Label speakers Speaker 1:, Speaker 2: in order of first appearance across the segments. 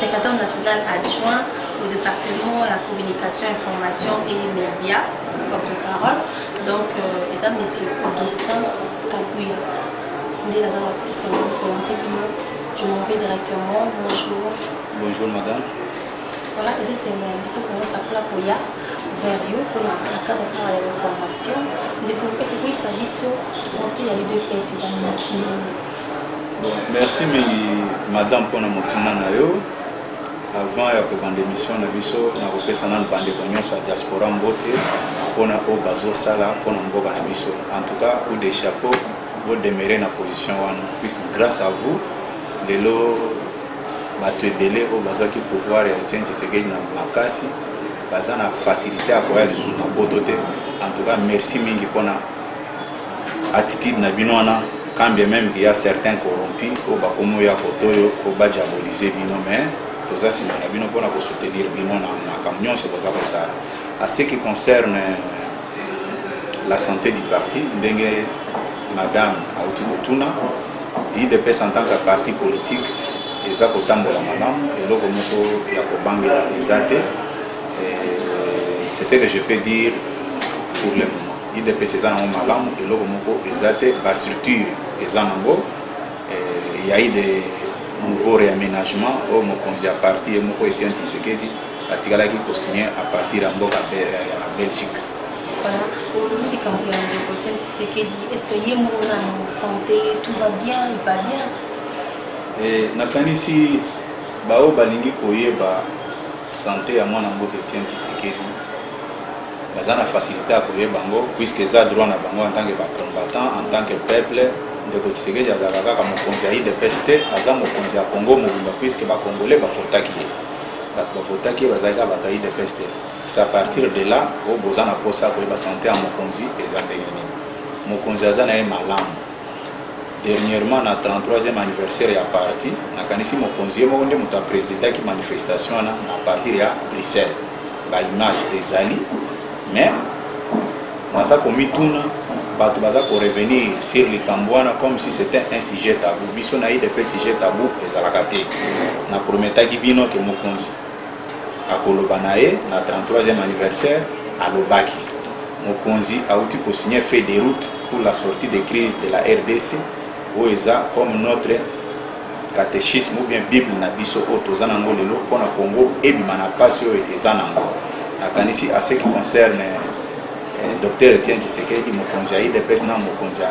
Speaker 1: secrétaire national adjoint au département ya communication information et média porte parole donc euh, eza monsieur augustin kampuya nde naza na esengo présente bino je m'en vais directement bonjour bonjour madame
Speaker 2: voilà
Speaker 1: eza esengo ya biso komosakola koya vers yo mpona na cadre mpona ya information ndeko ese koyebisa biso santé ya udps eza nini
Speaker 2: merci mingi madame mpo na motuna na yo avant ya kobanda émission na biso nakopesa nanu bandeko nyonso ya diaspora mbote mpona oyo bazosala mpona mboka na biso en tout cas coup de chapeau bodemere na position wana puisque grâce à vous lelo bato ebele oyo bazwaki pouvoir ya etienne tshisekedi na makasi baza na facilité ya koya lisusu na poto te en tout cas merci mingi mpona Attitude na bino wana quand bien meme qu'il y a certains corrompus oyo bakomi oya koto oyo po ba diaboliser bino mais toza nsima na bino mpona ko soutenir bino na makambo nyonso boza kosala à ce qui concerne la santé du parti ndenge madame auti kotuna idps en tant que parti politique eza kotambola malamu eloko moko ya kobangela eza te c'est ce que je peux dire pour le moment Udps eza nango malamu eloko moko eza te ba structure eza nango eh, ya ide nouveau réaménagement oyo mokonzi ya parti ye moko Etienne Tshisekedi atikalaki kosigne à partir ya mboka ya Belgique.
Speaker 1: olobi likambo ya ndeko Etienne Tshisekedi est ce que ye moko na santé tout va bien il va bien eh,
Speaker 2: nakanisi baoyo balingi koyeba sante ya mwana mboka Etienne Tshisekedi baza na facilite ya koyeba yango puisque eza droit na bango en tant que ba combattant en tant que peuple ndeko tshisekedi azalaka kaka mokonzi ya idps te aza mokonzi ya congo mobimba puisque bacongolais bavotaki ye bato bavotaki ye bazali kaka bato ya idps te sa partir de là oyo boza na mposa ya koyeba sante ya mokonzi eza ndenge nini mokonzi aza na ye malamu dernièrement na 33e anniversaire ya parti nakanisi mokonzi ye moko nde moto apresidaki manifestation wana na partir ya bruxelles baimage ezali mais naza komituna bato baza korevenir sur likambo wana comme si c'était un sujet tabou biso na idp sujet tabou ezalaka te na prometaki bino ke mokonzi Na koloba na ye na 33e anniversaire, alobaki, Mokonzi awuti ko signer feuille de route pour la sortie de crise de la rdc, oyo eza comme notre catechisme ou bien bible na biso oyo toza n'ango lelo mpo na Congo ebima na pasi oyo eza n'ango. Nakanisi à ce qui concerne Docteur Etienne Tshisekedi, mokonzi ya udps na mokonzi ya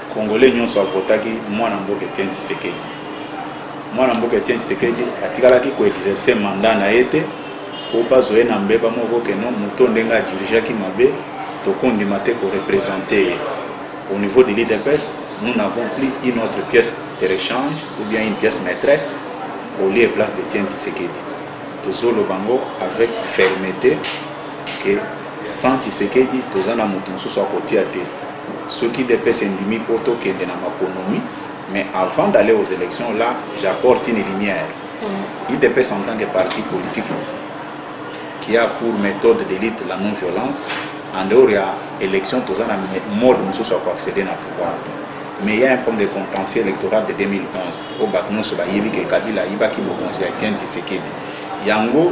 Speaker 2: Congolais nyonso a votaki mwana mboka Etienne Tshisekedi. Mwana mboka Etienne Tshisekedi atikalaki ko exercer mandat na ye te po bazo ye na mbeba moko ke non moto ndenge a dirigeaki mabe tokondima te ko representer ye. Au niveau de l'UDPS, nous n'avons plus une autre pièce de rechange ou bien une pièce maîtresse au lieu et place d'Etienne Tshisekedi. Tozoloba yango avec fermete ke Sans Tshisekedi toza na mutu mususu ya kotia te. Soki udps endimi po to kende na maponomi mais avant d'aller aux elections là j'apporte une lumière. Udps en tant que parti politique qui a pour methode de lutte la non violence en dehors ya election toza na mode mosusu ya koaccéder na pouvoir te mais il y a un problème de contentieux électoral de 2011 oyo bato nyonso bayebi ke kabila ayibaki bokonzi ya tien tisekedi yango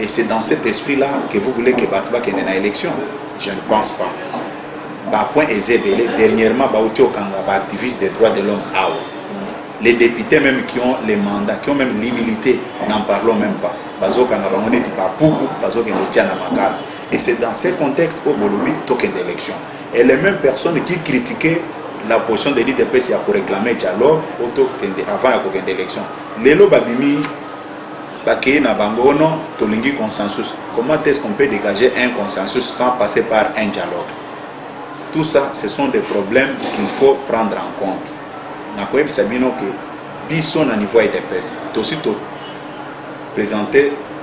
Speaker 2: Et c'est dans cet esprit là que vous voulez que bato bakende na élection je ne pense pas bapoint eza ebele dernièrement bauti okanga baactiviste des droits de l'homme awa les députés même qui ont les mandats qui ont même l'humilité n'en parlons même pas bazokanga bango neti bapuku bazokende otia na makala et c'est dans ce contexte oyo bolobi tokende élection et les mêmes personnes qui critiquaient la position de l'idps ya koréclame dialogue oyo tokende avant ya kokende élection lelo babimi Bakeyi na bango non tolingi consensus comment est-ce qu'on peut degager un consensus sans passer par un dialogue tout ça ce sont des problèmes qu'il faut prendre en compte nakoyebisa bino ke biso na niveau ya udps tosi to présente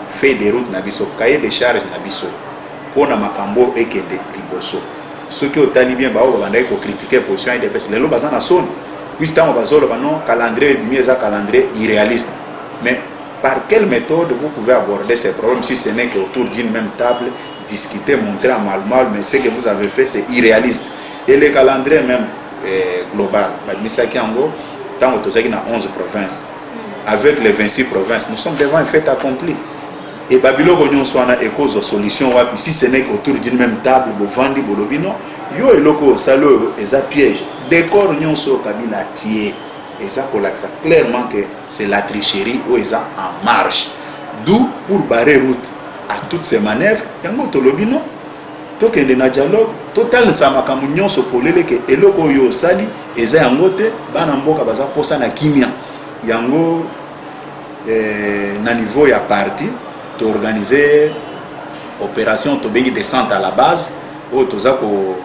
Speaker 2: feuille de route na biso cahier de charge na biso mpo na makambo oyo ekende liboso soki otali bien baoyo babandaki kokritike position ya udps lelo baza na soni puisi ntango bazoloba non calendrier ebimi eza calendrier irréaliste Mais par quelle méthode vous pouvez aborder ces problèmes si ce n'est qu'autour d'une même table, discuter, montrer à mal mal, mais ce que vous avez fait c'est irréaliste. Et le calendrier même eh, global, Badmisaki Ango, tant que tu dans 11 provinces, avec les 26 provinces, nous sommes devant un fait accompli. Et Babylone nyonso wana ekozwa solution wapi si ce n'est qu'autour d'une même table bovandi bolobi non yo eloko osali oyo eza piège décor nyonso oyo kabila atie eza kolakisa clairement que c'est la tricherie oyo eza en marche d'où pour barrer route à toutes ces manœuvres yango tolobi no tokende na dialogue totalisa makambo nyonso polele ke eloko oyo osali eza yango te bana mboka baza posa na kimia yango eh, na niveau ya parti toorganize opération tobengi descente à la base oyo toza ko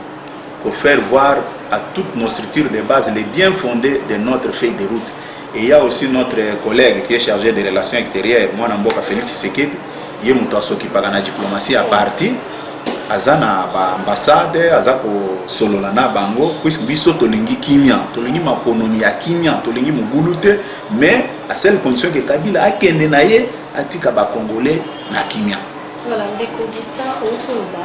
Speaker 2: ko faire voir à toutes nos structures de base les bien fondés de notre feuille de route et il y a aussi notre collègue qui est chargé des relations extérieures mwana mboka Félix Tshisekedi ye moto asokipaka na diplomatie ya parti aza na baambassade aza kosolola na bango puisque biso tolingi kimia tolingi maponomi ya kimia tolingi mobulu te mais a seule condition ke kabila akende na ye atika bacongolais na kimia voilà ndeko
Speaker 1: augustin outi oloba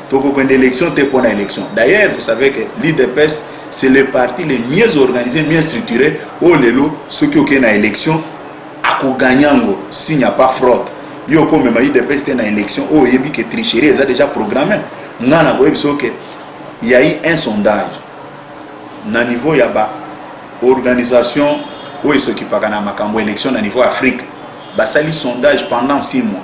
Speaker 2: tokokende élection te mpo na élection d'ailleurs vous savez que l'idps c'est le parti le mieux organisé mieux structuré oyo lelo soki okei na élection akoganye yango s'il n'y a pas fraude yo okomema udps te na élection oyo oyebi ke tricherie eza déjà programme ngai nakoyebisa yo ke yai un sondage na niveau ya ba organisation oyo esokipaka na makambo élection na niveau afrique basali sondage pendant 6 mois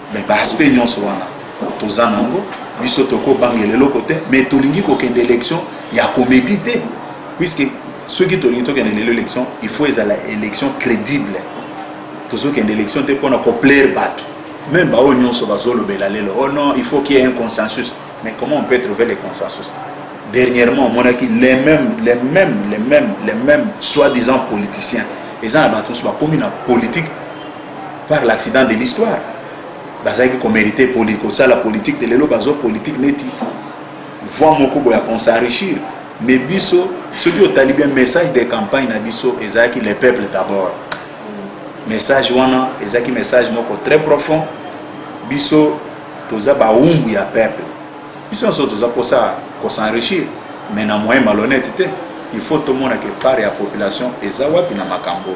Speaker 2: Mais ba aspect nyonso wana toza nango biso toko bangela eloko te mais tolingi kokende élection ya comédie te puisque soki tolingi tokende lelo élection il faut ezala élection crédible tozokende élection te mpona koplaire bato même baoyo nyonso bazolobela lelo oh non il faut qu'il y ait un consensus mais comment on peut trouver le consensus dernièrement omonaki les mêmes les mêmes les mêmes les mêmes soi-disant politiciens eza na bato mosusu bakomi na politique par l'accident de l'histoire bazalaki komerite poli kosala politike te lelo bazo politike neti voi moko boya konsenrichir me biso soki otali bien message de campagne na biso ezalaki le peuple d'abord message wana ezalaki message moko très profond biso toza bawumbu ya peuple biso nyonso toza mposa kosenrichir mais na moyen malhonnête te il faut tomona ke part ya population eza wapi na makambo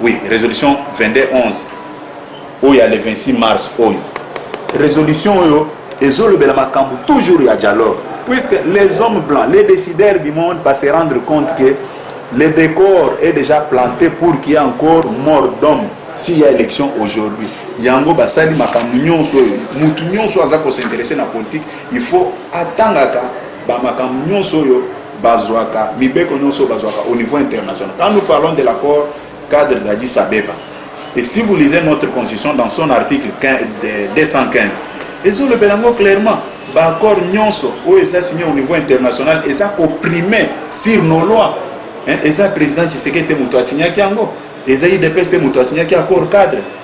Speaker 2: Oui, résolution 22 11 oyo ya le 26 mars oyo résolution oyo ezolobela makambo toujours ya dialogue puisque les hommes blancs les décideurs du monde va se rendre compte que le décor est déjà planté pour qu'il y ait encore mort d'homme s'il y a élection aujourd'hui yango basali makambo nyonso oyo motu nyonso aza kosinteresse na politique il faut atangaka bamakambo nyonso oyo bazwaka mibeko nyonso bazwaka au niveau international quand nous parlons de l'accord cadre d'Addis Abeba et si vous lisez notre constitution dans son article 215 ezolobela yango clairement baaccord nyonso oyo eza signe au niveau international eza koprime sur nos lois eza président tshisekedi te moto asignaki yango eza idps te moto asignaki accord cadre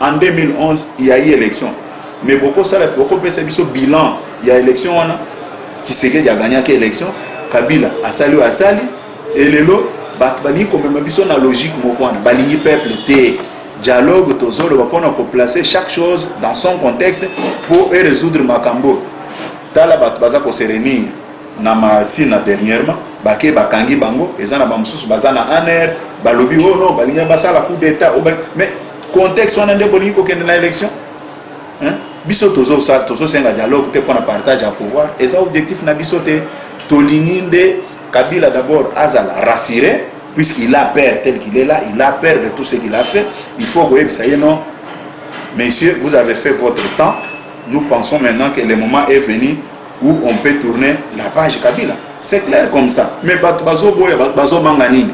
Speaker 2: en 2011 il y a eu élection mais bokosala bokopesa biso bilan ya élection wana tshisekedi agagnaki élection kabila asali oyo asali elelo bato balingi komema biso na logique moko wana balingi peuple te dialogue tozoloba mpona koplace chaque chose dans son contexte mpo erésoudre makambo tala bato baza koserenir na masina dernièrement bake bakangi bango eza na bamosusu baza na aner balobi o oh no balingi basala coup d'état oh, mais contexte wana nde bolingi kokende na élection biso tozosenga dialogue te mpona partage ya pouvoir eza objectif na biso te tolingi nde kabila d'abord azala rassure puisqu'il a peur tel qu'il est là il a peur de tout ce qu'il a fait il faut koyebisa ye non messieurs vous avez fait votre temps nous pensons maintenant que le moment est venu où on peut tourner la page kabila c'est clair comme ça mais bato bazoboya bazobanga nini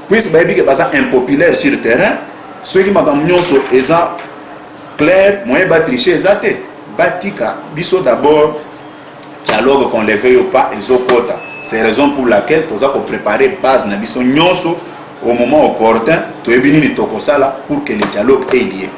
Speaker 2: puise bayebi ke baza impopulaire sur terrain soki makambo nyonso eza clair moyen batriche eza te batika biso d'abord dialogue qu'on le veuille ou pas ezokota c'est raison pour laquelle toza koprépare base na biso nyonso au moment opportun toyebi nini tokosala pour que le dialogue elie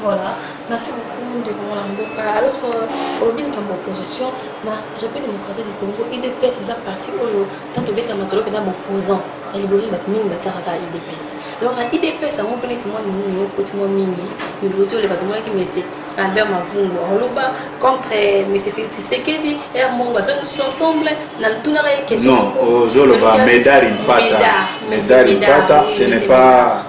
Speaker 2: Voilà,
Speaker 1: merci beaucoup de mon Mboka. Alors, euh, au milieu de mon opposition, la République démocratique du Congo, IDPS, c'est un parti où, tant que Beta Masolo, c'est un opposant. na liboso bato mingi batiakaka idps donc na idps yango mpe neti mwa nini yokoti mwa mingi mikoti oleka tomonaki mese albert mavungo oloba contre mese feli tisekedi r mongo bazongi tous ensemble na tunaka ye question ozoloba
Speaker 2: medar impata medar impata ce n'est pas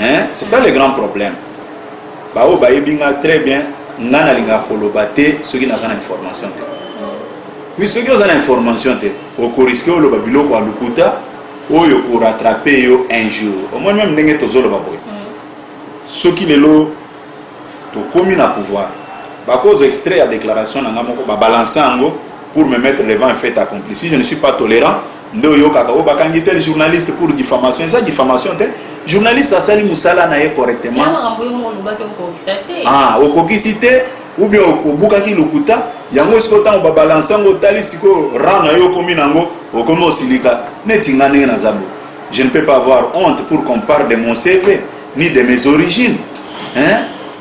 Speaker 2: hein c'est ça le grand problème baoyo bayebi nga très bien nga nalingaka koloba te soki naza na information te puis soki oza na information te okoriske oloba biloko ya lokuta oyo korattrape yo un jour omoni meme ndenge tozoloba boye soki lelo tokomi na pouvoir bakozwa extrait ya déclaration na nga moko babalanse yango pour me mettre devant un fait accompli si je ne suis pas tolérant nde oyokaka oyo bakangi tel journaliste pour diffamation eza diffamation te journaliste asali mosala na ye correctement ah, okokisi te ou bien obukaki lokuta yango sikoyo ntango babalanse yango otali sikoyo ran na yo okomi nango okomi osilika neti nga ndenge naza bo je ne peux pas avoir honte pour qu'on parle de mon cv ni de mes origines hein?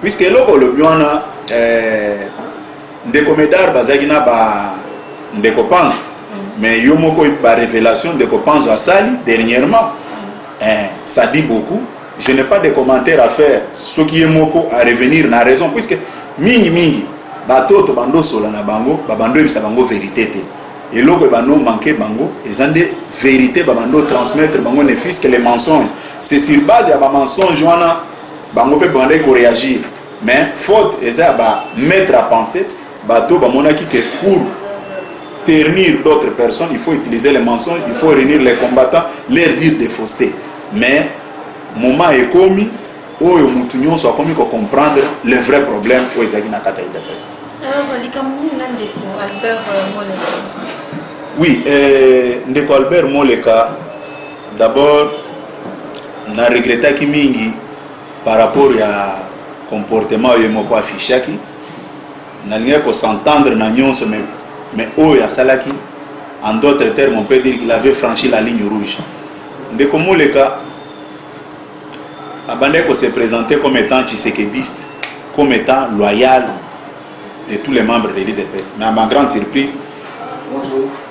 Speaker 2: puisque eloko olobi wana eh, ndeko medar bazalaki na ba ndeko panzo mm. mais yo moko ba révélation ndeko panzo asali dernièrement mm. eh, ça dit beaucoup je n'ai pas de commentaire à faire soki ye moko à revenir na raison puisque mingi mingi bato oyo tobanda osola na bango babanda oyebisa bango verité te eloko ebanda omanke bango eza nde verité babanda otransmettre bango ne fils que les mensonges c'est sur base ya bamensonge wana Bango pe bandaki ko reagir mais faute eza ya ba maitre à penser bato bamonaki que pour ternir d'autres personnes il faut utiliser les mensonges il faut réunir les combattants leur dire des faussetés mais moment ekomi oyo motu nyonso akomi ko comprendre le vrai problème oyo ezalaki na kati ya udps
Speaker 1: oui euh,
Speaker 2: ndeko albert moleka D'abord na regrettaki mingi par rapport ya comportement oyo ye moko affichaki. Nalingaki ko s'entendre na nyonso mais, mais oyo asalaki en d'autres termes on peut dire qu'il avait franchi la ligne rouge. Ndeko Moleka abandaki ko se présenter comme étant tshisekediste, comme étant loyal de tous les membres de l'UDPS. Mais à ma grande surprise,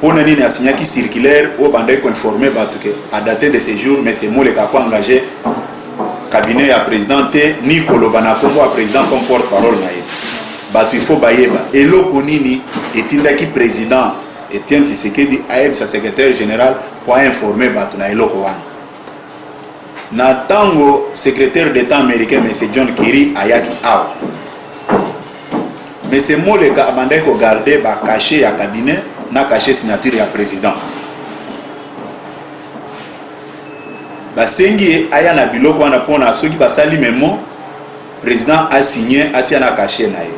Speaker 2: Pona nini a signaki circulaire oyo bandaki ko informer batu que a date de ce jour monsieur Moleka ako engage cabinet ya president te ni koloba na kombo ya president comme porte parole na ye batu il faut bayeba eloko nini etindaki president Etienne Tshisekedi ayebisa secrétaire général mpo ainforme bato na eloko wana na ntango secrétaire d'état américain monsieur john kerry ayaki awa Monsieur Moleka abandaki ko garder ba cachets ya cabinet na cachet signature ya president. Basengi ye aya na biloko wana mpona soki basali memo president asigne atia na cachet na ye.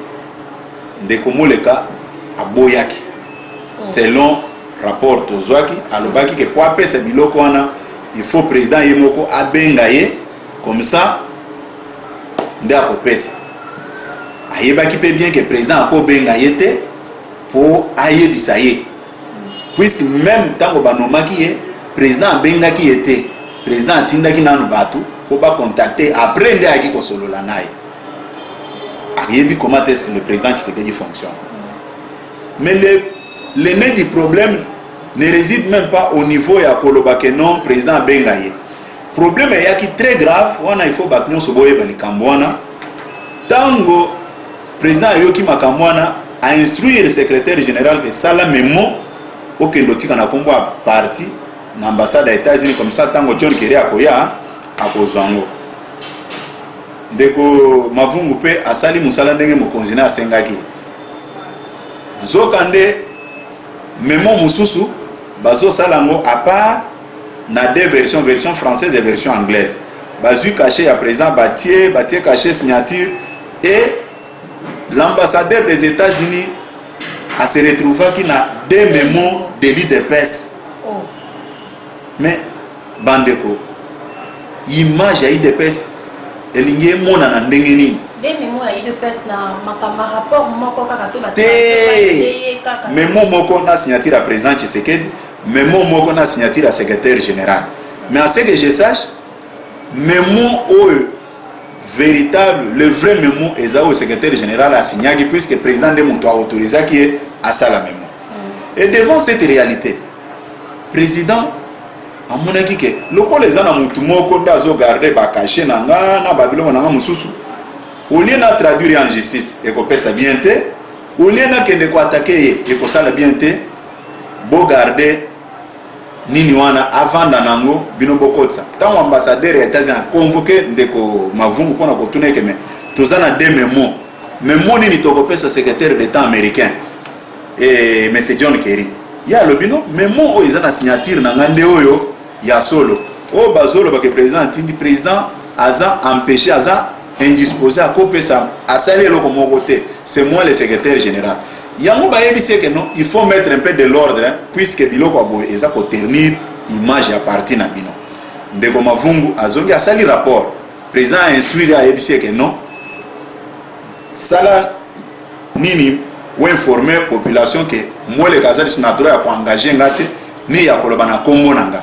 Speaker 2: Ndeko Moleka aboyaki selon rapport tozwaki alobaki ke mpo apesa biloko wana il faut président ye moko abenga ye comme ça nde akopesa ayebaki mpe bien ke président akobenga ye te mpo ayebisa ye puisque meme ntango banomaki ye président abengaki ye te président atindaki nanu bato mpo bacontacte après nde ayaki kosolola na ye ayebi comment est ce que le président tshisekedi fonctionne mais le, le nez du problème ne réside même pas au niveau ya koloba ke non président abenga ye Problème eyaki très grave wana, il faut bato nyonso boyeba likambo wana. Tango président ayoki makambo wana, a instruire secrétaire général que sala memo okende otika na kombo ya parti na ambassade ya États-Unis comme ça tango John Kerry akoya akozwa yango. Ndeko Mavungu pe asali mosala ndenge mokonzi na asengaki. Nzokande memo mosusu bazosala yango apart na deux version version française et version anglaise bazui cachet ya président batie batie cachet signature et l'ambassadeur des États-Unis a se retrouvaki na deux memo délit de pèse oh. mais bandeko image ya idps elingi emonana ndenge nini
Speaker 1: te
Speaker 2: memo moko na signature ya président tshisekedi memo moko na signature ya secretaire general mais à ce que je sache memo oyo véritable le vrai memo eza oyo secretaire général asignaki puisque président nde moto aautorisaki ye asala memo mm. et devant cette réalité président amonaki ke lokola eza na motu moko nde azogarde bakashe na nga na babiloko na nga mosusu olie na traduire en justice ekopesa bien te olie nakende koatake ye ekosala bien te bo garde nini wana avanda nango bino bokotisa ntango ambassadeur ya etats-unis aconvoke ndeko mavungu mpona kotuna ete me toza na de memo memo nini tokopesa secrétaire d'état américain e, eh, mr john kerry ye alobi no memo oyo eza na signature na ngai nde oyo ya solo oyo bazolobake président atindi président aza empêche aza indispose akopesa asali eloko moko te c'est moi le secrétaire général yango bayebi se que non il faut mettre un peu de l'ordre hein, puisque biloko ya boye eza koternir image ya parti na bino ndeko mavungu azongi asali rapport président a instruire ayebi se que non sala nini oinforme population ke mweleka aza lisusu na droit ya koengage nga te ni ya koloba na nkombo na nga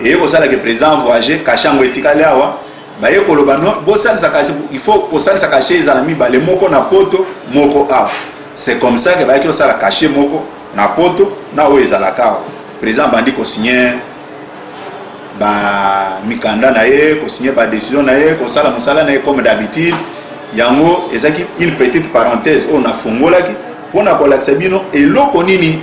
Speaker 2: eye kosala ke president voyage kashe yango etikali awa baye koloba no bosalisa kashe il faut kosalisa kashe ezala mibale moko na poto moko awa c'est comme ça ke bayaki kosala kashe moko na poto na oyo ezalaka awa president abandi kosigne ba mikanda na ye kosigne ba décision na ye kosala mosala na ye comme d'habitude yango ezalaki une petite parenthèse oyo nafungolaki mpo na kolakisa bino eloko nini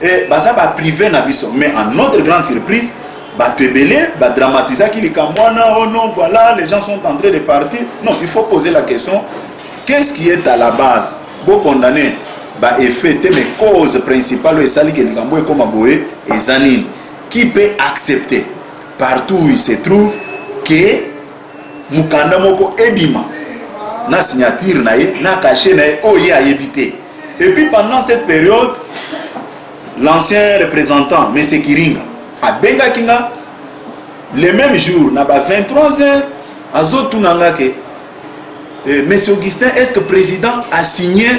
Speaker 2: Eh, baza ba prive na biso mais en notre grande surprise bato ebele badramatisaki likambo wana oh non voilà les gens sont en train de partir non il faut poser la question qu'est-ce qui est à la base bocondamne baeffet te mais cause principale oyo esali ke likambo ekoma boye eza nini qui peut accepter partout où il se trouve que mokanda moko ebima na signature na ye na cachet na ye oyo ye ayebi te et puis pendant cette période l'ancien représentant monsieur kiringa abengaki nga le même jour na ba 23 heures azotuna nga ke eh, monsieur augustin est ce que président asigne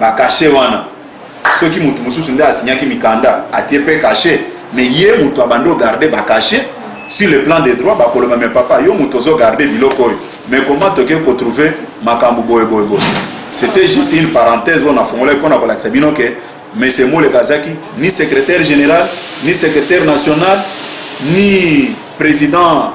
Speaker 2: ba cachet wana soki mutu mususu nde asignaki mikanda atie pe cachet mais ye mutu abandi ogarde ba cachet sur le plan des droits bakoloba mais papa yo mutu ozo garde biloko oyo mais comment toke kotrouve makambo boye boye boye c'était juste une parenthèse oyo nafongolaki mpona kolakisa bino ke monsieur moleka azaki ni secrétaire général ni secrétaire national ni président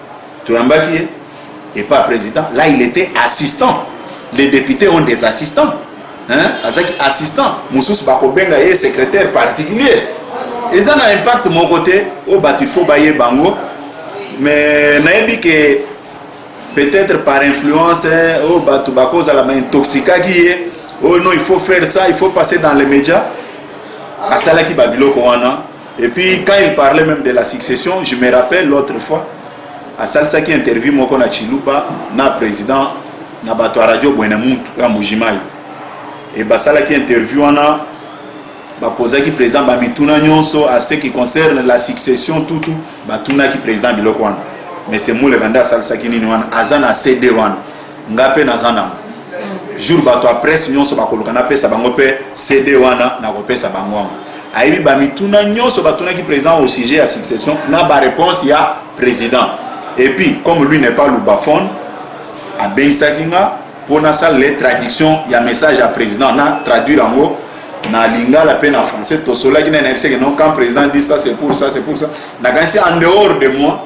Speaker 2: toyambaki ye et pas président là il était assistant les députés ont des assistants hein azaki assistant mususu bakobenga ye secrétaire particulier eza na impact moko te oyo bato il faut baye bango mais nayebi ke peut-être par influence oyo bato bakozala ma intoxikaki ye oyo oh non il faut faire ça il faut passer dans les médias asalaki babiloko wana Et puis quand il parlait même de la succession, je me rappelle l'autre fois, à asalisaki interview moko na Chiluba na président na bato ya radio Buenamuntu ya Mbujimayi. Et basalaki interview wana baposaki président bamituna nyonso à ce qui concerne la succession tout tout batunaki président biloko wana. Mais c'est Moulevanda asalisaki nini wana aza na CD wana. nga pe naza nango jour bato ya presse nyonso bakoluka napesa bango mpe cd wana nakopesa bango yango ayebi bamituna nyonso batunaki président au sujet ya succession na baréponse ya président et puis comme lui n'est pas lubaphone abengisaki nga mpo nasalele traduction ya message ya président na traduire yango na lingala mpe na français tosolaki naye nayebisaki non quand président dit ça c'est pour ça c'est pour ça nakanisi en dehors de moi